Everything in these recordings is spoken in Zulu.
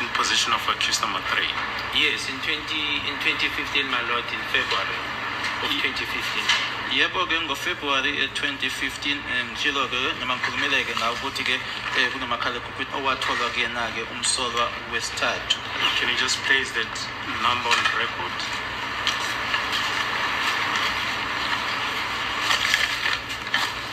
in position of accused number three. Yes, in 20 in 2015, my lord, in February of 2015. yebo ke ngofebruwari 2015 ngitshilo ke noma ngikhulumeleke ngawo ukuthi ke eh, kunomakhalekhukhwini owatholwa kuyena-ke umsolwa wesithathu Can you just place that number on record?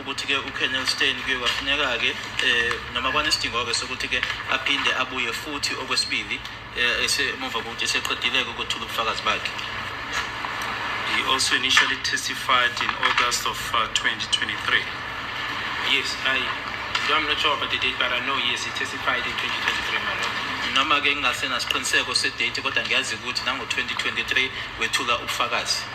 ukuthi-ke ucolonel stein kuye kwafuneka-ke um noma kwanesidingo-ke sokuthi-ke aphinde abuye futhi okwesibili um esemuva kokuthi eseqedileke ukuthula ubufakazi bakhe He also initially testified in August of uh, 2023. Yes, I, I'm not sure about the date, but I know, yes, he testified in 2023, my lord. noma-ke ngingasenasiqiniseko sedate kodwa ngiyazi ukuthi nango-2023 wethula ubufakazi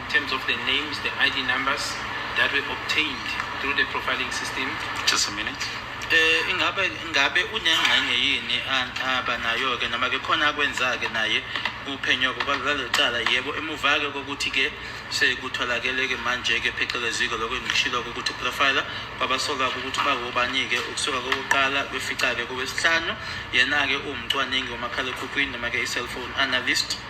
In terms of the names, the ID numbers that were obtained through the profiling system. Just a minute. Eh ingabe ingabe unengxenye yini aba nayo ke noma ke khona akwenza ke naye uphenyo kwabalecala yebo emuva ke kokuthi ke sekutholakele ke manje ke pheceleziko lokho engishilo ukuthi profiler kwabasoka ukuthi bawobani ke ukusuka kokuqala kwefica ke kowesihlanu yena ke uwumcwaningi womakhalekhukhwini noma ke i-cellphone analyst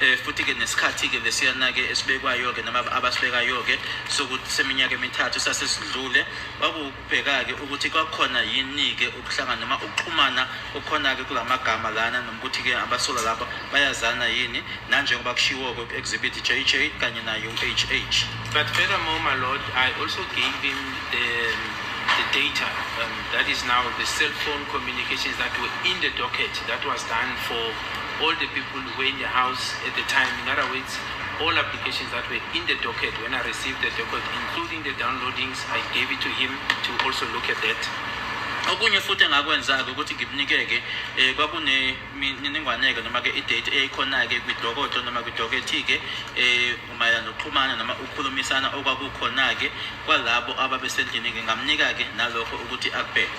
eh futhi ke nesikhathi ke lesiyana ke esibekwayo ke noma abasibekayo ke sokuthi seminyaka emithathu sasesidlule wakubheka ke ukuthi kwakhona yini ke ukuhlangana noma ukuxhumana okhona ke kulamagama lana nokuthi ke abasola laba bayazana yini nanjengoba kushiwo ke exhibit JJ kanye na UHH but furthermore my lord i also gave him the the data um, that is now the cell phone communications that were in the docket that was done for All the people who were in the house at the time, in other words, all applications that were in the docket when I received the docket, including the downloadings, I gave it to him to also look at that. okunye futhi engakwenza-ke ukuthi ngimnike-ke um eh, kwakunemininingwane-ke noma-ke idate eyayikhona-ke kwidokodo noma kwidokethi-ke um mayelana nokuxhumana noma ukukhulumisana okwakukhona-ke kwalabo ababesendlini ngingamnika-ke nalokho ukuthi akubheke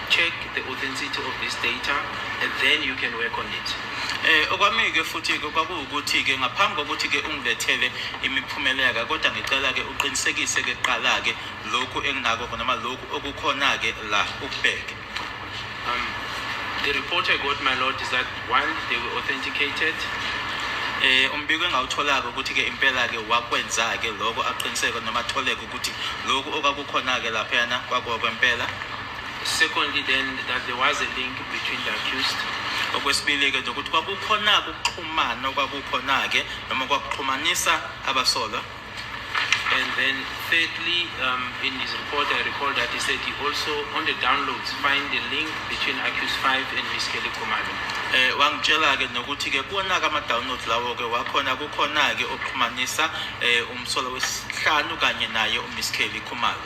check the authenticity of this data and then you can work on it eh okwami-ke futhi-ke kwakuwukuthi-ke ngaphambi kokuthi-ke ungilethele imiphumela-ke kodwa ngicela-ke uqinisekise-ke kuqala-ke lokhu engingako noma lokhu okukhona-ke la ukubheke um, the report i got my lord is that one they were authenticated eh umbiko engawutholaka ukuthi ke impela ke wakwenza ke lokho aqiniseke noma atholeke ukuthi lokho okakukhona ke lapha yana kwakwempela Secondly then that there was a link between the accused okwesibili-ke nje ukuthi kwakukhona-ke ukuxhumana okwakukhona-ke noma kwakuxhumanisa abasolwa And then thirdly, um, in his report, I recall that he said he also, on the downloads, find the link between Accused 5 and Miss Kelly Kumalo. Eh, wangitshela-ke nokuthi-ke kuwona-ke ama-downloads lawo-ke wakhona kukhona-ke oxhumanisa um umsolwa wesihlanu kanye naye umiss kelly khumalo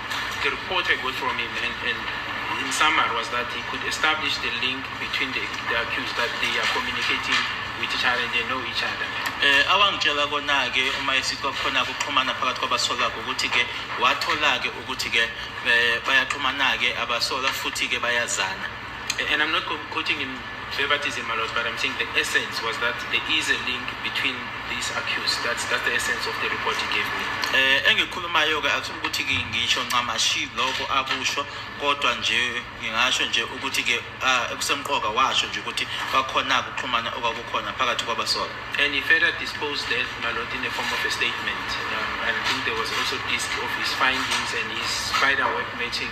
The report I got from him and, and in summary was that he could establish the link between the, the accused that they are communicating with each other and they know each other. Eh awangitshela kona ke uma esithi kwakhona ukuxhumana phakathi kwabasolwa ukuthi ke wathola ke ukuthi ke eh, bayaxhumana ke abasolwa futhi ke bayazana. And I'm not quoting him favoritism a lot, but I'm saying the essence was that there is a link between these accused. That's that's the essence of the report he gave me. Eh engikhulumayo ke akufuni ukuthi ngisho ncamashi lokho akusho kodwa nje ngingasho nje ukuthi ke ah, ekusemqoka washo nje ukuthi bakhona ukuxhumana okwakukhona phakathi kwabasolwa. And he further disposed that Malot in the form of a statement. Um, I think there was also disc of his findings and his spider web matching.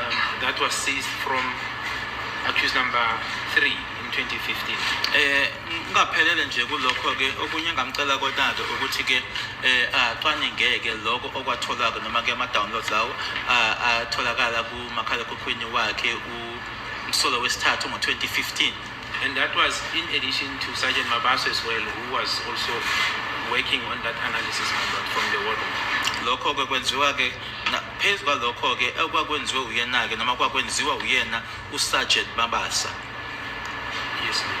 um, that was seized from accused number 3 in 2015 eh ngaphelele nje kulokho ke okunye ngamcela kodade ukuthi ke eh acwaningeke lokho okwatholaka noma ke ama downloads lawo atholakala ku makhalekhukhwini wakhe umsolo wesithathu ngo 2015 And that was in addition to Sergeant Mabaso as well, who was also working on that analysis report from the war room. lokho-ke kwenziwa-ke na- phezu kwalokho-ke okwakwenziwe uyena-ke noma kwakwenziwa uyena usargent mabasa Yes, ma'am.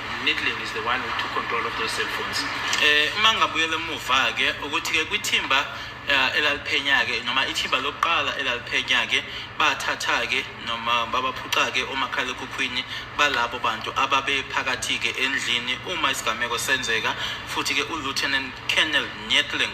Midland is the one who took control of those cell phones. Eh uma ngabuyela emuva ke ukuthi ke kwithimba eh, elaliphenya ke noma ithimba lokuqala elaliphenya ke bathatha ke noma babaphuca ke omakhalekhukhwini balabo bantu ababe phakathi ke endlini uma isigameko senzeka futhi ke uLieutenant Colonel Nyetling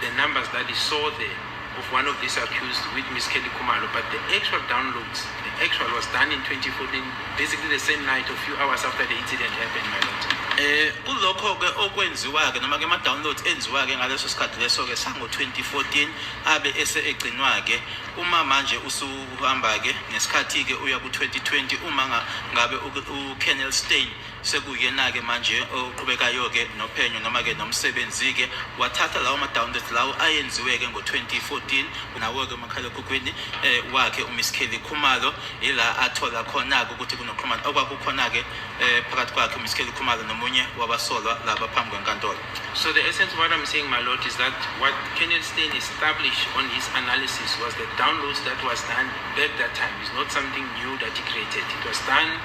The numbers that he saw there of one of these accused with Miss Kelly Kumalo, but the actual downloads, the actual was done in 2014, basically the same night, a few hours after the incident happened, my lord. Eh kulokho-ke okwenziwa-ke noma-ke ama-download enziwa-ke ngaleso sikhathi leso-ke sango-2014 abe ese egcinwa-ke uma manje usuhamba-ke ngesikhathi-ke uya ku-2020 uma ngabe u-kennel stain sekuyena-ke manje oqhubekayo-ke nophenyo noma-ke nomsebenzi-ke wathatha lawo ma-downloads lawo ayenziwe-ke ngo-2014 nawo-ke umakhalekhukhwini eh, wakhe umiss kelly khumalo ila athola khona-ke ukuthi kunoxhumana okwakukhona-ke eh, phakathi kwakhe umiss kelly khumalo nomunye wabasolwa laba phambi kwenkantolo So the essence of what I'm saying, my lord, is that what Kenneth Stein established on his analysis was the downloads that was done back that time. It's not something new that he created. It was done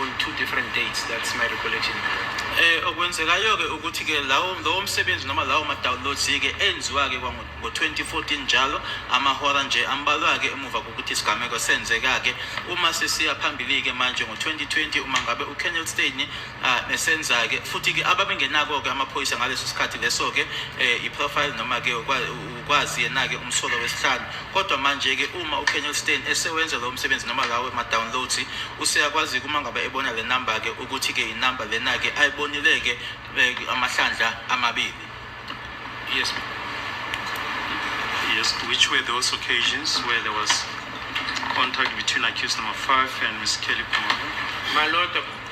on two different dates that's my recollection eh okwenzekayo ke ukuthi ke lawo lowo msebenzi noma lawo ma downloads ke enziwa ke kwango 2014 njalo amahora nje ambalwa ke emuva kokuthi isigameko senzeka ke uma sesiya phambili ke manje ngo 2020 uma ngabe u Kennel Stein ah, esenza ke futhi ke ababengenako ke amaphoyisa ngaleso sikhathi leso ke eh, i profile noma ke kwazi yena-ke umsolwa wesihlanu kodwa manje-ke uma ukenel stein esewenza lowo msebenzi noma lawo ma-downloads useyakwazi-ke uma ngabe ebona le namba-ke ukuthi-ke inamba lena-ke ayibonile-ke eh, amahlandla amabili yes yes which were those occasions where there was contact between accused number five and miss kelly Kumalo? my lord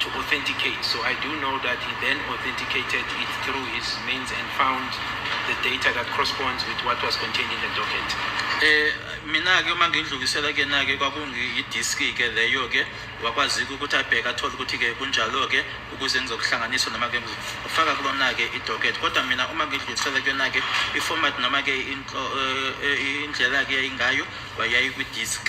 to authenticate. So I do know that he then authenticated it through his means and found the data that corresponds with what was contained in the docket. Eh mina ke uma ngindlulisela ke na ke kwakungi disk ke leyo ke wakwazi ukuthi abheke athole ukuthi ke kunjalo ke ukuze ngizokuhlanganisa noma ke ngifaka kulona ke idocket kodwa mina uma ngidlulisela ke na ke iformat noma ke eh, eh, indlela ke yayingayo wayayi kwi disk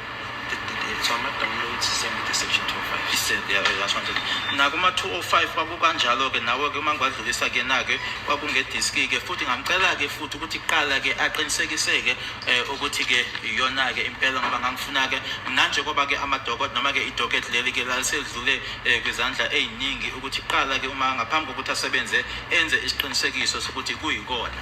so ama-downloads sembide section 205 iseyalashanjena nakuma-205 kwakukanjalo-ke nawe-ke uma ngiwadlulisa kuyena-ke kwakungediski-ke futhi ngamcela-ke futhi ukuthi kuqala-ke aqinisekise-ke um ukuthi-ke iyona-ke impela ngoba ngangifuna-ke mnanje koba-ke amadokot noma-ke idoket leli-ke laliselidlule um kwizandla ey'ningi ukuthi kuqala-ke uma ngaphambi kokuthi asebenze enze isiqinisekiso sokuthi kuyikona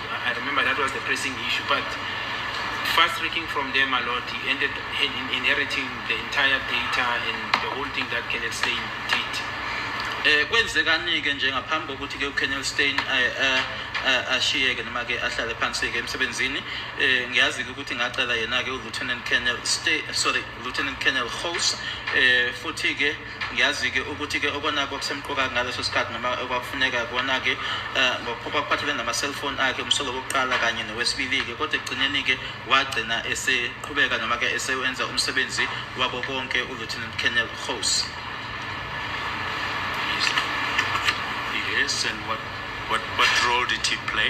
I remember that was the pressing issue, but fast tracking from them a lot, he ended inheriting the entire data and the whole thing that Kenneth Stein did. Eh kwenzekani-ke nje ngaphambi kokuthi ke uKenneth Stein eh, eh, eh, ashiyeke noma ke ahlale phansi ke emsebenzini eh ngiyazi ukuthi ngacela yena ke uLieutenant Colonel Stay sorry Lieutenant Colonel House eh futhi ke ngiyazi-ke ukuthi-ke okonake okusemqoka ngaleso sikhathi noma okwakufuneka kona-ke eh, um kwakuphathelene nama-cellphone akhe umsolo wokuqala kanye nowesibili-ke kodwa ekugcineni-ke wagcina eseqhubeka noma-ke esewenza umsebenzi wako konke ulieutenant colonel hos Yes, and what, what, what role did he play?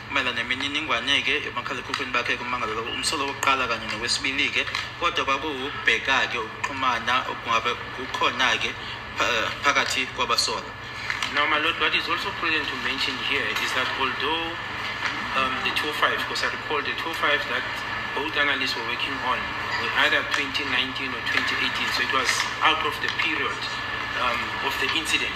Mayelana nemininingwane-ke emakhalekhukhwini bakhe kummangalo lowo umsolo wokuqala kanye nowesibili-ke kodwa kwakuwukubheka-ke ukuxhumana okungabe kukhona-ke pha- phakathi kwabasolwa Now, my lord, what is also prudent to mention here is that although um, the 205, because I recall the 205 that both analysts were working on were either 2019 or 2018, so it was out of the period um, of the incident.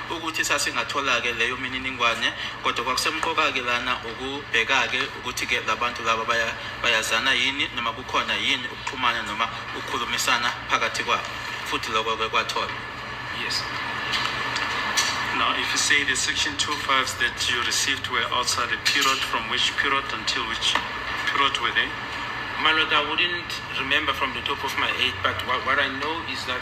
ukuthi sasingathola-ke leyo mininingwane kodwa kwakusemqoka-ke lana ukubheka-ke ukuthi-ke la bantu laba bayazana yini noma kukhona yini ukuxhumana noma ukukhulumisana phakathi kwabo futhi lokho-ke kwathola yes Now, if you say the section 25 that you received were outside the period, from which period until which period were they? My lord, I wouldn't remember from the top of my head, but what, what I know is that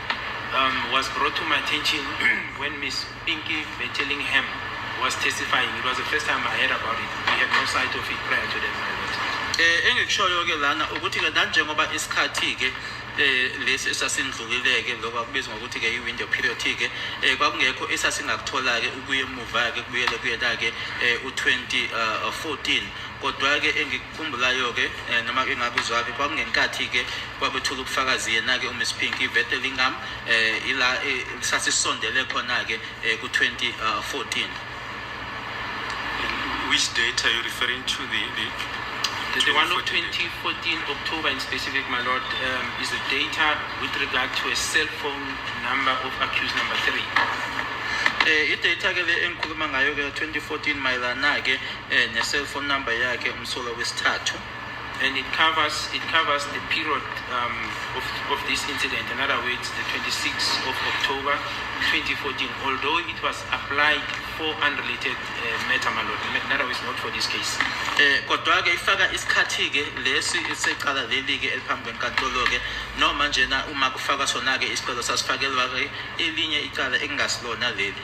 um, was brought to my attention when Miss Pinky Betelingham was testifying. It was the first time I heard about it. We had no sight of it prior to that marriage. Eh, engikushoyo-ke lana ukuthi-ke nanjengoba isikhathi-ke eh lesi esasindlulileke lokho akubizwa ngokuthi ke i-window period ke eh kwakungekho esasingakuthola-ke ukuye emuva-ke kubuyele kuyena-ke eh u-2014 eh, kodwa-ke Khumbulayo-ke eh, noma ke ngabe uzwaphi kwakungenkathi-ke kwabethula ubufakazi yena-ke umiss pinky ivete lingam um eh, ila eh, sasisondele khona-ke um ku-2014 which date are you referring to the, the The, the one of 2014 October in specific, my lord, um, is the data with regard to a cell phone number of accused number three. Eh, i-data ke le engikhuluma ngayo ke 2014 mayelana ke eh, ne-cell phone number yakhe umsolwa wesithathu and it covers it covers the period um, of, of this incident. In other words, the 26th of October 2014. Although it was applied for unrelated uh, matter, my lord. In other words, not for this case. Eh, kodwa ke ifaka isikhathi ke lesi secala leli ke eliphambi kwenkantolo ke noma njena uma kufaka sona ke isicelo sasifakelwa ke elinye icala ekungasilona leli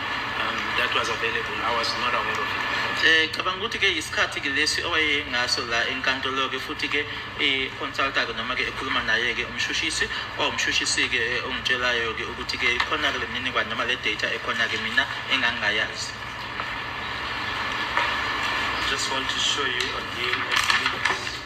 um, that was available i was not aware of it Eh, cabanga ukuthi ke isikhathi ke lesi owayengaso la enkantolo ke futhi ke i-consulta ke noma ke ekhuluma naye ke umshushisi kwawumshushisi ke eh, ongitshelayo ke ukuthi ke ikhona ke lemininingwane noma le data ekhona ke mina engangingayazi just want to show you again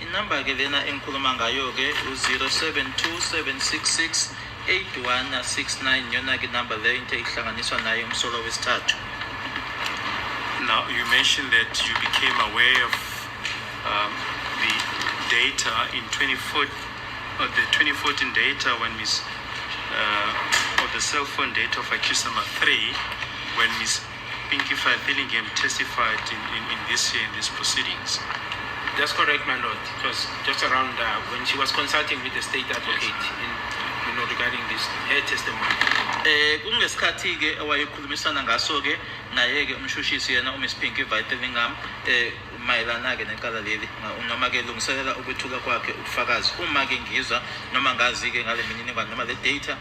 Inamba ke lena engikhuluma ngayo ke u-072766 8169 yona ke number leyo into ehlanganiswa nayo umsolo wesithathu Now, you mentioned that you became aware of um, the data in 24, uh, the 2014 data when Miss, uh, or the cell phone data of Akisama 3, when Miss Pinky Fire Billingham testified in, in, in this in these proceedings. That's correct, my lord. It was just around uh, when she was consulting with the state advocate yes. in, you know, regarding this her testimony. Eh kungesikhathi ke wayekhulumisana ngaso ke naye ke umshushisi yena uMiss Pinky Vitellingham eh mayelana ke necala leli noma ke lungiselela ukwethula kwakhe ubufakazi uma ke ngizwa noma ngazi ke ngale mininingwane noma le data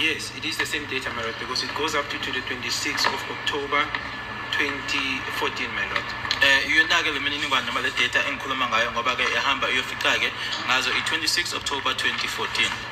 Yes, it is the same date, my lord, because it goes up to, to the 26th of October 2014, my lord. Eh iyonake le mininingwane noma le data engikhuluma ngayo ngoba ke ehamba iyofica ke ngazo i-26 October 2014.